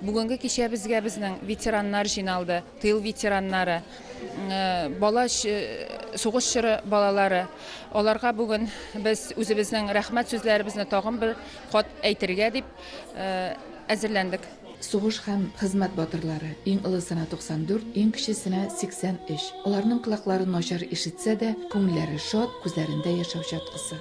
Бүгенге кичәбезгә безнең ветераннар җыйналды, тыл ветераннары, бала сугыш чоры балалары. Аларга бүген без үзебезнең рәхмәт сүзләребезне тагын бер кат әйтергә дип әзерләндек. Сугыш һәм хезмәт батырлары, иң олысына 94, иң кечесенә 83. Аларның колаклары начар ишетсә дә, күңелләре шат, күзләрендә яшәү чаткысы.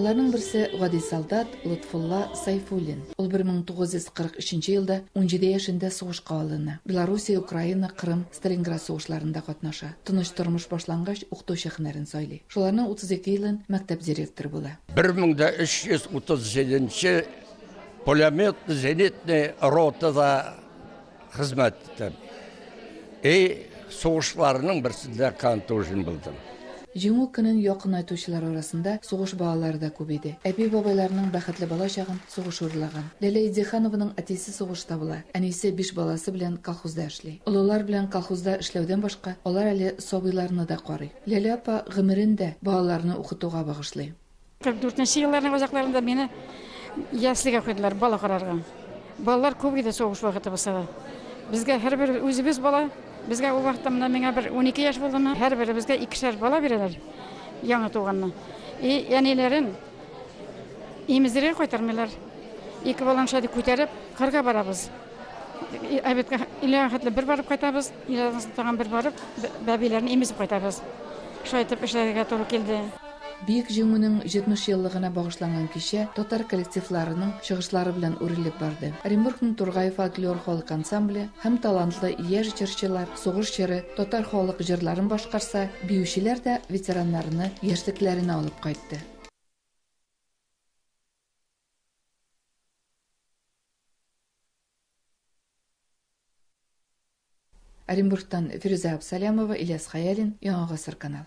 Аларның берсе, гади солдат Лотфулла Сайфуллин. Ул 1943 елда унҗиде яшендә сугышка алына. Белоруссия, Украина, Кырым, Сталинград сугышларында катнаша. Тыныч тормыш башлангач, укытучы һөнәрен сайлый. Шуларның 32 елын мәктәп директоры була. 1337 нче пулеметный-зенитный ротада Хезмәт иттем. И сугышларның берсендә контужен булдым. Җиңү көнен якынайтучылар арасында сугыш балалары да күп иде. Әби-бабайларының бәхетле бала чагын сугыш урлаган. Ләлә Идеханованың әтисе сугышта була, әнисе биш баласы белән колхозда эшли. Олылар белән колхозда эшләүдән башка, алар әле сабыйларны да карый. Ләлә апа гомерен дә балаларны укытуга багышлый. Кырык дүртенче елларның озакларында мине яслигә куйдылар, бала карарга. Балалар күп иде сугыш вакыты булса да. Безгә һәрбер үзебез бала, безгә ул вакытта менә миңа бер 12 яшь булдымы, һәрберебезгә икешәр бала бирәләр, яңа туганны. И әниләрен имездерергә кайтармыйлар. Ике баланы шулай күтәреп, кырга барабыз. Әбеткә иләгә хәтле бер барып кайтабыз, иләгә тагын бер барып, бәбиләрне имезеп кайтабыз. Шулай итеп эшләргә туры килде. Бөек Җиңүнең 70 еллыгына багышланган кичә татар коллективларының чыгышлары белән үрелеп барды. Оренбургның Тургай фольклор халык ансамбле һәм талантлы яшь җырчылар сугыш җыры, татар халык җырларын башкарса, биючеләр дә ветераннарны яшьлекләренә алып кайтты. Оренбургтан Фирүзә Абсалямова, Ильяс Хәялин, Яңа гасыр каналы.